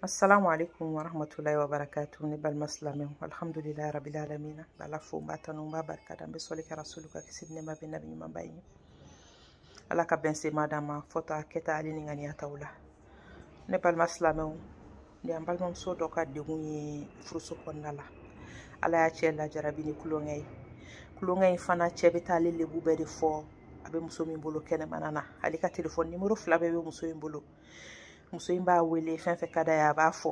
assalamu alaikum wa rahmatullahi wa barakatu ne balima silamɛw alhamdulilayi rabili alamina n b'ala fo n b'a tanu n b'a barika da n bɛ sɔli kɛ rasulu kan kisi ni nɛma bɛ nabi ɲumanba ye ala ka bɛn sema d'a ma fɔta kɛta ale ni ŋaniyataw la ne balima silamɛw nin an balimamuso dɔ ka degun ye furuso kɔnɔna la ala y'a cɛ lajarabi ni kulonkɛ ye kulonkɛ in fana cɛ bɛ taa ale lebu bɛɛ de fɔ a bɛ muso min bolo kɛnɛmana na ale ka telefɔni nimoro fila bɛɛ bɛ muso in bolo muso in b'a wele fɛn fɛn ka d'a ye a b'a fɔ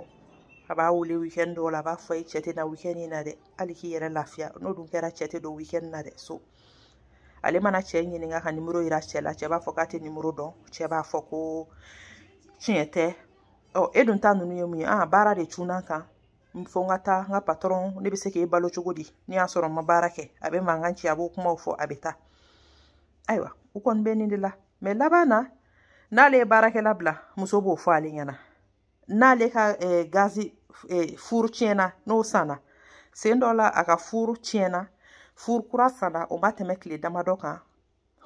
a b'a wele wikɛni dɔw la a b'a fɔ i cɛ tɛ na wikɛni in na dɛ hali k'i yɛrɛ lafiya n'o dun kɛra cɛ tɛ don wikɛni na dɛ so ale mana cɛ ɲininka ka nimoro yira cɛ la cɛ b'a fɔ k'a tɛ nimoro dɔn cɛ b'a fɔ ko tiɲɛ tɛ ɔ e dun ta ninnu ye mun ye aa baara de cunna n kan fo n ka taa n ka patɔrɔn ne bɛ se k'e balo cogo di n'i y'a sɔrɔ n ma baara kɛ a bɛ mankan ci a b'o kumaw fɔ a bɛ taa ayiwa u kɔni bɛ nin de la mɛ laban na n'ale ye baarakɛla bila muso b'o fɔ ale ɲɛna n'ale ka eh, gazi eh, furu tiɲɛna n'o sanna sen dɔ la a ka furu tiɲɛna furu kura sanna o ma tɛmɛ tile damadɔ kan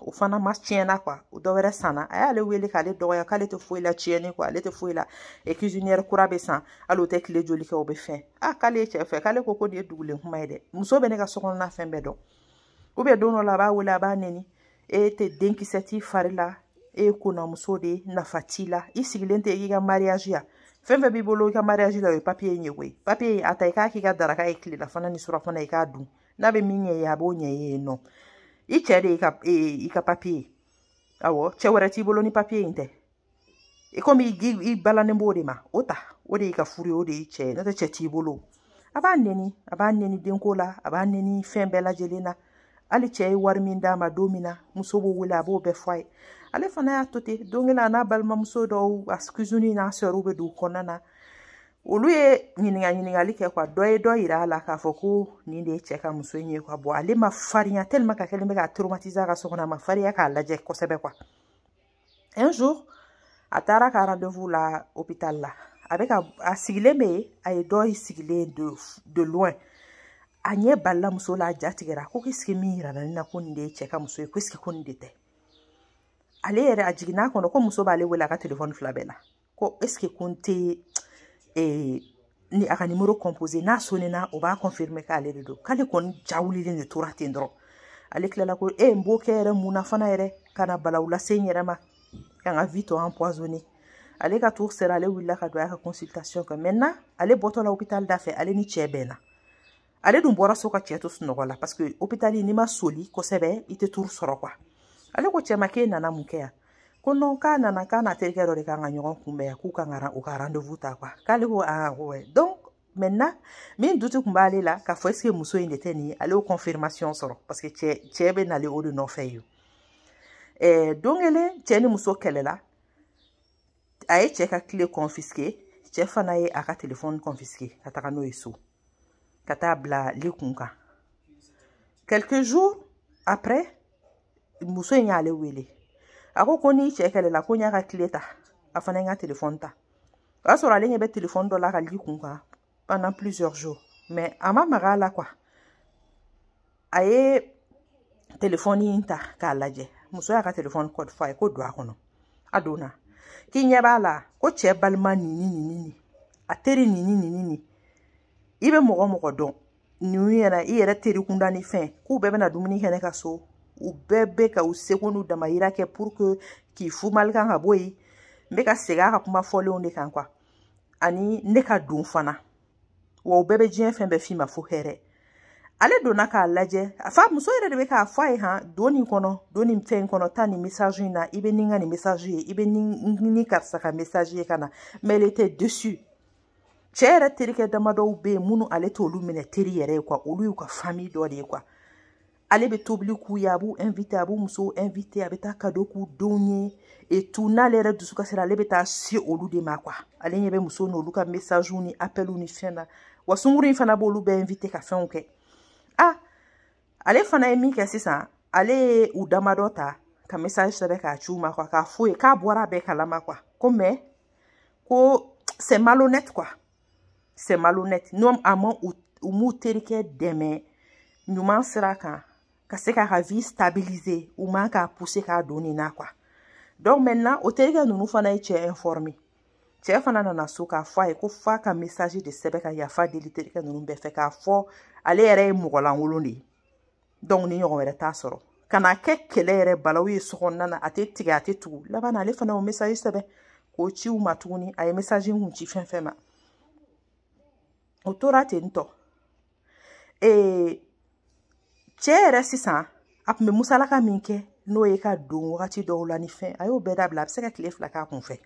o fana ma tiɲɛna kuwa o dɔ wɛrɛ sanna a y'ale wele k'ale dɔgɔya k'ale tɛ foyi la tiɲɛni kɔ ale tɛ foyi la e cuisinière kura bɛ san hali o tɛ tile joli kɛ o bɛ fɛn a k'ale ye cɛ fɛ k'ale ko ko nin ye dugulen kuma ye dɛ muso bɛ ne ka sokɔnɔna fɛn bɛɛ dɔn u bɛ don dɔ la a b'a wele a b'a nɛni e tɛ denkisɛ t'i fari la e ye konamuso de ye nafa t'i la i sigilen tɛ i ka mariage ya fɛn fɛn b'i bolo i ka mariage la o ye papiye in ye koyi papiye in a ta i k'a k'i ka daraka ye tilelafana ni surafana i k'a dun n'a bɛ min ɲɛ i ye a b'o ɲɛ i ye nɔ i cɛ de y'i ka papiye ye awɔ cɛ wɛrɛ t'i bolo ni papiye in tɛ i komi i balannen b'o de ma o ta o de y'i ka furu ye o de y'i cɛ ye n'o tɛ cɛ t'i bolo a b'a nɛni a b'a nɛni denko la a b'a nɛni fɛn bɛɛ lajɛlen na hali cɛ ye wari min d'a ma don min na muso b'o wele a b'o bɛɛ fɔ a ye ale fana y'a to ten don kelen a n'a balimamuso dɔw a cousine n'a sœurw bɛ du kɔnɔna na olu ye ɲininka ɲininkali kɛ kuwa dɔ ye dɔ yira a la k'a fɔ ko nin de ye cɛ ka muso in ye kuwa bɔn ale ma farinya tellement k'a kɛlen bɛ k'a traumatiser ka so kɔnɔ a ma farinya k'a lajɛ kosɛbɛ kuwa un jour a taara ka rendez-vous la hôpital la a bɛ ka a sigilen bɛ yen a ye dɔ sigilen ye de loin a ɲɛ balala muso la a ja tigɛra ko k'eseke min yirana ne na ko nin de ye cɛ ka muso ye k'eseke ko nin de tɛ ale yɛrɛ a jiginn'a kɔnɔ ko muso b'ale wele a ka telefɔni fila bɛɛ la ko eseke ko n tɛ ee ni a ka nimoro kɔnpose n'a sonina o b'a kɔnfirime k'ale de don k'ale kɔni ja wulilen de tora ten dɔrɔn ale tilala ko e n b'o kɛ yɛrɛ mun na fana yɛrɛ ka na balawu lase n yɛrɛ ma ka n ka vi tɔ empoisonne ale ka tour sera ale wulila ka don a ka consultation kɛ maintenant ale bɔtɔla hôpital da fɛ ale ni cɛ bɛnna ale dun bɔra so ka cɛ to sunɔgɔ la parce que hôpital n'i ma soli kosɛbɛ i tɛ tour sɔrɔ quoi ale ko cɛ ma k'e nana mun kɛ yan ko non k'a nana k'a n'a terikɛ dɔ de kan ka ɲɔgɔn kunbɛn yan k'u kan ka u ka rendez-vous ta quoi k'ale ko aa ko ouais donc maintenant min doute tun b'ale la k'a fɔ est-ce que muso in de tɛ nin ye ale y'o confirmation sɔrɔ parce que cɛ cɛ bɛ nalen o de nɔfɛ ye eh, don kelen cɛ ni muso kɛlɛla a ye cɛ ka clé confisqué cɛ fana ye a ka telefɔni confisqué ka taga n'o ye so ka taa bila li kun kan quelques jours après muso in y'ale wele a ko ko n'i cɛ kɛlɛla ko n y'a ka clé ta a fana ye n ka telefɔni ta o y'a sɔrɔ ale ɲɛ bɛ telefɔni dɔ la a ka li kun kan pendant plusieurs jours mais a ma maga a la quoi a ye telefɔni in ta k'a lajɛ muso y'a ka telefɔni code fɔ a ye ko don a kɔnɔ a donna k'i ɲɛ b'a la ko cɛ balima nin ni nin ni nin a teri nin ni nin ni nin i bɛ mɔgɔ o mɔgɔ dɔn nin yɛrɛ i yɛrɛ teri kunda ni fɛn k'u bɛɛ bɛna dumuni kɛ ne ka so u bɛɛ bɛ ka u seko n'u damayira kɛ pour que k'i fumali kan ka bɔ yen n bɛ ka segin a ka kuma fɔlenw de kan quoi ani ne ka don fana wa o bɛɛ bɛ diɲɛ fɛn bɛɛ f'i ma fo hɛrɛ ale donna k'a lajɛ a fa muso yɛrɛ de bɛ k'a fɔ a ye han don nin kɔnɔ don nin fɛn in kɔnɔ taa nin message in na i bɛ nin ka nin message ye i bɛ nin ni karisa ka message ye ka na mais elle était déçue cɛ yɛrɛ terikɛ damadɔw bɛ yen minnu ale t'olu minɛ teri yɛrɛ ye quoi olu y'u ka famille dɔ de ye quoi ale bɛ tobili k'u ye a b'u invite a b'u musow invite a bɛ taa kado k'u denw ye et tout n'ale yɛrɛ dusu kasila ale bɛ taa se olu de ma quoi ale ɲɛ bɛ muso n'olu ka message ni appel ni fɛn na wa sunkuru in fana b'olu bɛɛ invite ka fɛnw kɛ ah ale fana ye min kɛ sisan ale ye u damadɔ ta ka message sɛbɛn k'a ci u ma quoi k'a f'u ye k'a bɔra a bɛɛ kalama quoi ko mais ko c'est malhonnête quoi c'est malhonnête n'a ma u m'u terikɛ dɛmɛ ɲuman sira kan ka se k'a ka vie stabiliser u man k'a pousser k'a don nin na quoi donc maintenant o terikɛ ninnu fana ye cɛ informer cɛ fana nana so k'a fɔ a ye ko f'a ka message de sɛbɛn ka yafa deli terikɛ ninnu bɛɛ fɛ k'a fɔ ale yɛrɛ ye mɔgɔlankolon de ye donc nin ɲɔgɔn wɛrɛ t'a sɔrɔ ka na kɛ kɛlɛ yɛrɛ balawu ye sokɔnɔna na a tɛ tigɛ a tɛ tugu laban na ale fana y'o message sɛbɛn k'o ci u ma tuguni a ye message kun ci fɛn o fɛn ma o tora ten tɔ ee cɛ yɛrɛ sisan a tun bɛ musalaka min kɛ n'o ye ka don wagati dɔw la ni fɛn a y'o bɛɛ dabila a bɛ se ka tile fila k'a kun fɛ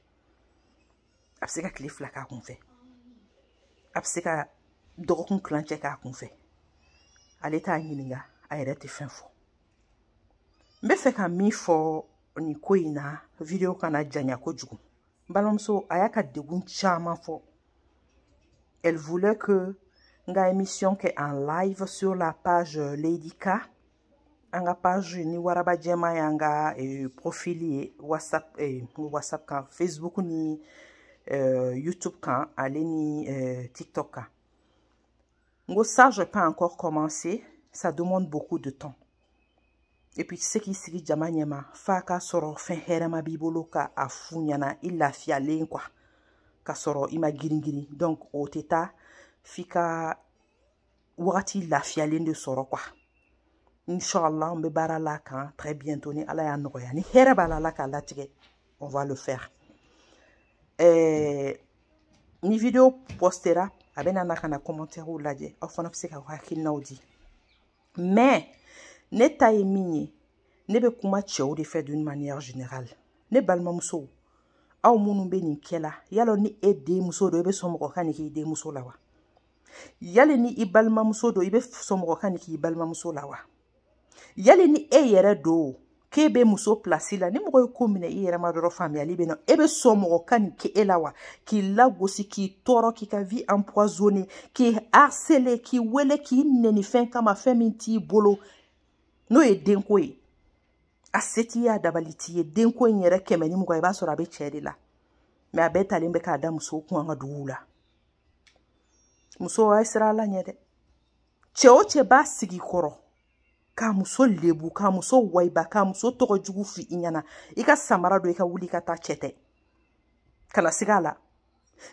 a bɛ se ka tile fila k'a kun fɛ a bɛ se ka dɔgɔkun kilancɛ k'a kun fɛ ale t'a ɲininka a yɛrɛ tɛ fɛn fɔ n b'a fɛ ka min fɔ nin ko in na video kana janya kojugu n balimamuso a y'a ka degun caman fɔ elle voulait que n ka émission kɛ en live sur la page Lady K an ka page ni waraba jɛma y'an ka eh, profil ye whatsapp eh, whatsapp kan facebook ni eh, youtube kan ale ni eh, tiktok kan n ko ça j'ai pas encore commencé ça demande beaucoup de temps et puis i tɛ se k'i sigi jama ɲɛma f'a ka sɔrɔ fɛn hɛrɛma b'i bolo ka a f'u ɲɛna i lafiyalen quoi ka sɔrɔ i ma girin girin donc o tɛ taa f'i ka wagati lafiyalen de sɔrɔ quoi inshallah an bɛ baara l'a kan très bientôt ni ala y'a nɔgɔya ni hɛrɛ b'a la ala k'a latigɛ on va le faire eh, ni video postera a bɛna na ka na commentaires lajɛ aw fana bɛ se ka hakilinaw di mais ne ta ye min ye ne bɛ kuma cɛw de fɛ d'une manière générale ne balimamusow aw minnu bɛ nin kɛ la yali ni e denmuso don e bɛ sɔn mɔgɔ ka nin k'i denmuso la wa yali ni i balimamuso don i bɛ sɔn mɔgɔ ka nin k'i balimamuso la wa yali ni e yɛrɛ don k'e bɛ muso place la ni mɔgɔ ye ko minɛ i yɛrɛ ma dɔrɔn faamuyali bɛ na e bɛ sɔn mɔgɔ ka nin kɛ e la wa k'i lagosi k'i tɔɔrɔ k'i ka vie empoisonner k'i harceler k'i wele k'i nɛni fɛn kama fɛn min t'i bolo n'o ye denko ye a se t'i ye a dabali t'i ye denko in yɛrɛ kɛmɛ ni mugan i b'a sɔrɔ a bɛ cɛ de la mais a bɛɛ talen bɛ k'a da musow kun an ka duguw la muso a ye siran ala ɲɛ dɛ cɛ o cɛ b'a sigi i kɔrɔ k'a muso lebu k'a muso wayiba k'a muso tɔgɔ jugu f'i ɲɛna i ka samara don i ka wuli ka taa cɛ tɛ kana siga a la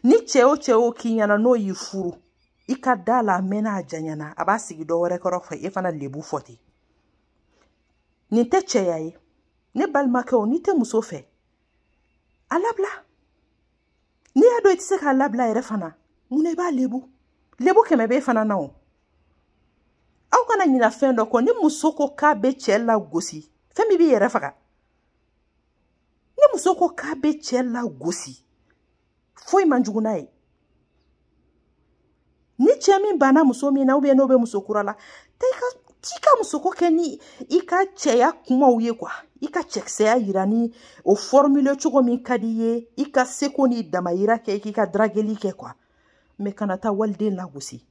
ni cɛ o cɛ y'o k'i ɲɛna n'o y'i furu i ka da a la a mɛnna a janyana a b'a sigi dɔ wɛrɛ kɔrɔ fɛ e fana lebu fɔ ten nin tɛ cɛya ye ne balimakɛ o n'i tɛ muso fɛ a labila n'i y'a dɔn i tɛ se k'a labila yɛrɛ fana mun na i b'a lebu lebu kɛmɛ b'e fana na o aw kana ɲina fɛn dɔ kɔ ni muso ko k'a bɛ cɛ lagosi fɛn min b'i yɛrɛ faga ni muso ko k'a bɛ cɛ lagosi foyi man jugu n'a ye ni cɛ min banna muso min na ou bien n'o bɛ muso kura la taa i ka t'i ka musoko kɛ ni i ka cɛya kumaw ye quoi i ka cɛkisɛya yira ni o formule cogo min ka d'i ye i ka seko n'i damayira kɛ k'i ka drageli kɛ quoi mais kana taa waliden lagosi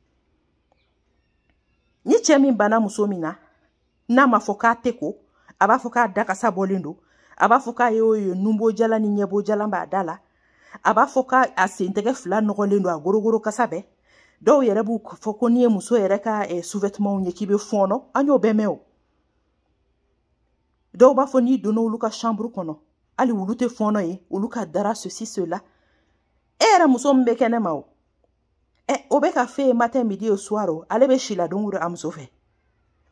ni cɛ min banna muso min na n'a ma fɔ k'a tɛ ko a b'a fɔ k'a da kasa bɔlen don a b'a fɔ k'a ye o ye nunbo jalan ni ɲɛbo jalan b'a da la a b'a fɔ k'a a sentɛgɛ fila nɔgɔlen don a gorogoro kasa bɛɛ dɔw yɛrɛ b'u fɔ ko n'i ye muso yɛrɛ ka eh, sous-vêtements ye k'i bɛ fɔɔnɔ an y'o bɛɛ mɛn o dɔw b'a fɔ n'i donna olu ka chambre kɔnɔ hali olu tɛ fɔɔnɔ ye olu ka dara ceci cela e yɛrɛ muso min bɛ kɛnɛ ma o ɛ o bɛ ka f'e ye matin midi et soir o ale bɛ si la don o don a muso fɛ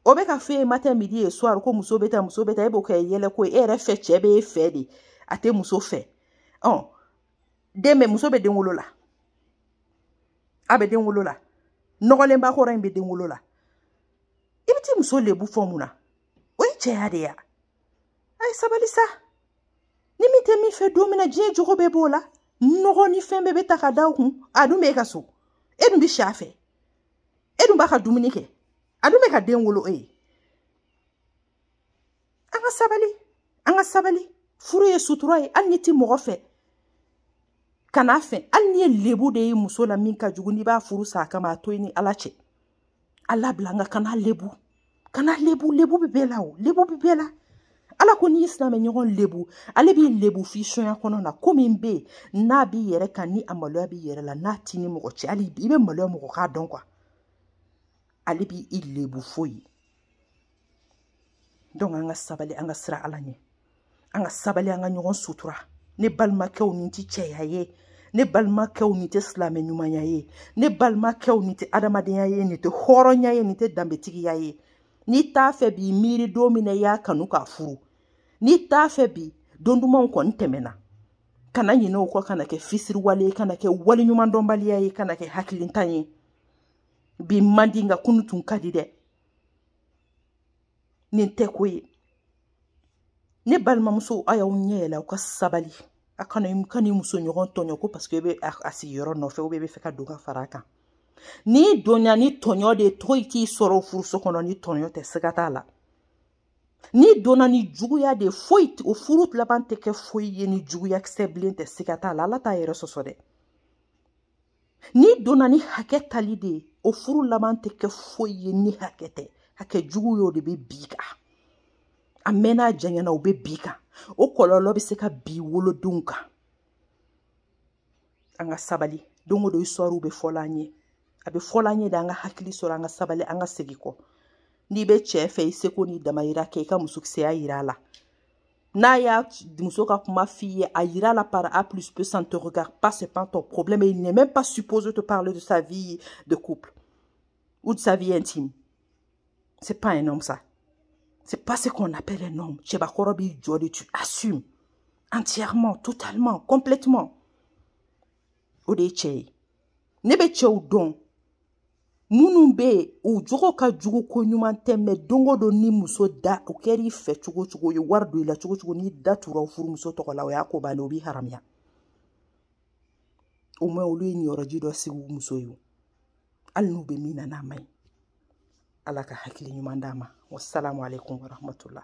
o bɛ ka f'e ye matin midi et soir ko muso bɛ taa muso bɛ taa e b'o kɛ yɛlɛko ye e yɛrɛ fɛ cɛ bɛ e fɛ de a tɛ muso fɛ ɔ den bɛ muso bɛ den wolo la a bɛ den wolo la nɔgɔlenba kɔrɔ in bɛ den wolo la i bɛ t'i muso lebu fɔ mun na o ye cɛya de ye a ye sabali sa ni min tɛ min fɛ don min na diɲɛ jogo bɛɛ b'o la nɔgɔ ni fɛn bɛɛ bɛ ta ka da o kun a dun bɛ e ka so e dun bɛ si a fɛ e dun b'a ka dumuni kɛ a dun bɛ ka den wolo e ye an ka sabali an ka sabali furu ye sutura ye hali n'i tɛ mɔgɔ fɛ kana fɛ hali n'i ye lebu de ye muso la min ka jugu n'i b'a furu sa a kama a to i ni ala cɛ a labila nka kana lebu kana lebu lebu bɛ bɛɛ la o lebu bɛ bɛɛ la ala ko n'i y'i silamɛ ɲɔgɔn lebu ale b'i lebu f'i soɲɛ kɔnɔna ko min bɛ yen n'a b'i yɛrɛ kan ni a maloya b'i yɛrɛ la n'a t'i ni mɔgɔ cɛ hali i bɛ maloya mɔgɔ k'a dɔn quoi ale b'i lebu foyi donc an ka sabali an ka siran ala ɲɛ an ka sabali an ka ɲɔgɔn sutura ne balimakɛw nin tɛ cɛya ye ne balimakɛw nin tɛ silamɛ ɲumanya ye ne balimakɛw nin tɛ adamadenya ye nin tɛ hɔrɔnya ye nin tɛ danbetigiya ye n'i t'a fɛ bi miiri don min na i y'a kanu k'a furu n'i t'a fɛ bi don dumanw kɔni tɛmɛna kana ɲinɛ o kɔ kana kɛ fisiriwale ye kana kɛ waleɲumandɔnbaliya ye kana kɛ hakilintan ye bi man di nka kunu tun ka di dɛ nin tɛ ko ye ne balimamuso a y'aw ɲɛ yɛlɛ aw ka sabali a kana kan'i muso ɲɔgɔn tɔɲɔ ko parce que i bɛ a sigiyɔrɔ nɔfɛ i bɛ fɛ ka don ka fara a kan n'i donna ni tɔɲɔ de ye foyi t'i sɔrɔ furuso kɔnɔ ni tɔɲɔ tɛ siga t'a la n'i donna ni juguya de ye foyi o furu laban tɛ kɛ foyi ye ni juguya kisɛ bilen tɛ siga t'a la ala t'a yɛrɛ sɔsɔ dɛ n'i donna ni hakɛ tali de ye o furu laban tɛ kɛ foyi ye ni hakɛ tɛ hakɛ jugu y'o de bɛ bin i kan a mɛnna a janyana o bɛ bin i kan o kɔlɔlɔ bɛ se ka bin i wolodenw kan an ka sabali don o don histoires bɛ fɔla an ye a bɛ fɔla an ye de an ka hakili sɔrɔ an ka sabali an ka segin kɔ n'i bɛ cɛ fɛ i seko n'i damayira kɛ i ka musokisɛya yira a la n'a y'a muso ka kuma f'i ye a yira la par a plus b ça ne te regarde pas c'est pas ton problème et il n'est même pas supposé te parler de sa vie de couple ou de sa vie intime c'est pas un homme ça c'est pas ce qu'on appelle un homme cɛbakɔrɔ b'i jɔ de tu assumes entièrement totalement complètement o de ye cɛ ye ne bɛ cɛw dɔn minnu bɛ yen u jogo ka jugu ko ɲuman tɛ mɛ don o don ni muso da o kɛra i fɛ cogo cogo ye wari don i la cogo cogo n'i da tura furumuso tɔgɔ la o y'a ko bannen o b'i haramuya au moins olu ye niyɔrɔji dɔ sigi u muso ye hali n'u bɛ min na n'a ma ɲi ala ka hakili ɲuman d'a ma wasalamu aleykum warahmatula